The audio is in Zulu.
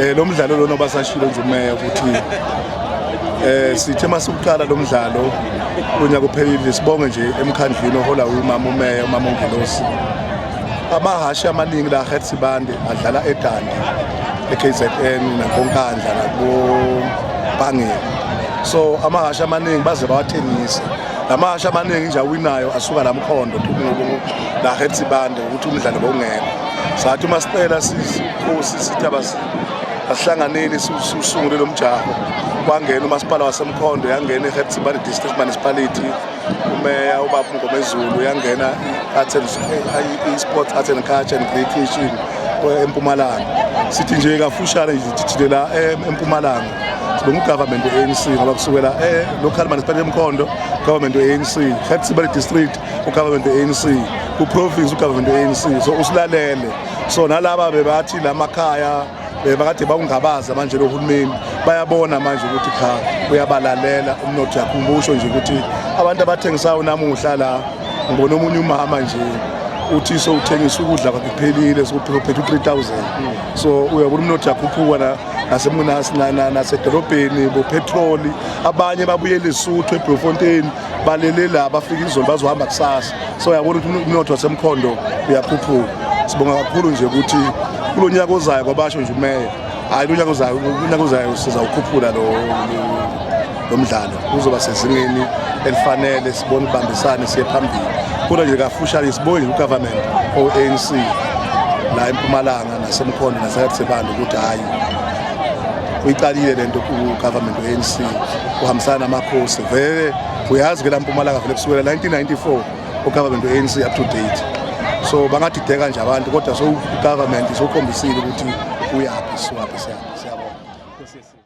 Eh lo mdlalo lona obasashilo nje umeya ukuthi eh sithe masukuqala lo mdlalo unyaka uphelile sibonge nje emkhandlwini ohola umama umeya umama uNgelosi amahhashi amaningi la Head Sibande adlala eDandi eKZN nakoNkandla nakoBangela so amahhashi amaningi baze bawathengise lamahhashi amaningi nje awinayo asuka la mkhondo la Head Sibande ukuthi umdlalo bowungekho sathi uma sicela sisi Nkosi sithi asihlanganeni siwusungule lo mjaho kwangena umasipala wasemkhondo yangena i-hepsibani district municipality umeya ubaba ngomezulu yangena i-sports art and culture and great nation empumalanga sithi nje kafushane thithile la eh, empumalanga bengugovernment we-anc ngoba kusukela eh, local municipality emkhondo government we-anc hepsibani district ugovernment we-anc kuprovince ugovernment we-anc so usilalele so nalaba bebathi la makhaya bebakade bawungabaza manje lo hulumeni bayabona manje ukuthi cha uyabalalela umnotho yakho usho nje ukuthi abantu abathengisayo namuhla la ngibona omunye umama nje uthi so uthengisa ukudla kwakhe kuphelile sokuphethe u-3000 so uyabona umnotho yakhuphuka na nasemunasi nasedolobheni bopetroli abanye babuyele isuthu eblofontein balele la bafika izolo bazohamba kusasa so uyabona ukuthi umnotho wasemkhondo uyakhuphuka sibonga kakhulu nje ukuthi kulo nyaka ozayo kwabasho nje umeya hhayi lo nyaka ozayo unyaka ozayo sizawukhuphula lo lo mdlalo uzoba sezingeni elifanele sibone ubambisane siye phambili kodwa nje kafushane sibonge ugovernment o-anc la empumalanga nasemkhondo nasekathisebanda ukuthi hhayi uyiqalile le nto ugovernment we-anc uhambisana namakhosi vele uyazi ke la mpumalanga vele kusukela 1994 ugovernment we-anc up to date so bangadideka nje abantu kodwa so ugovernment sokhombisile ukuthi uyaphi siwaphi siyaphi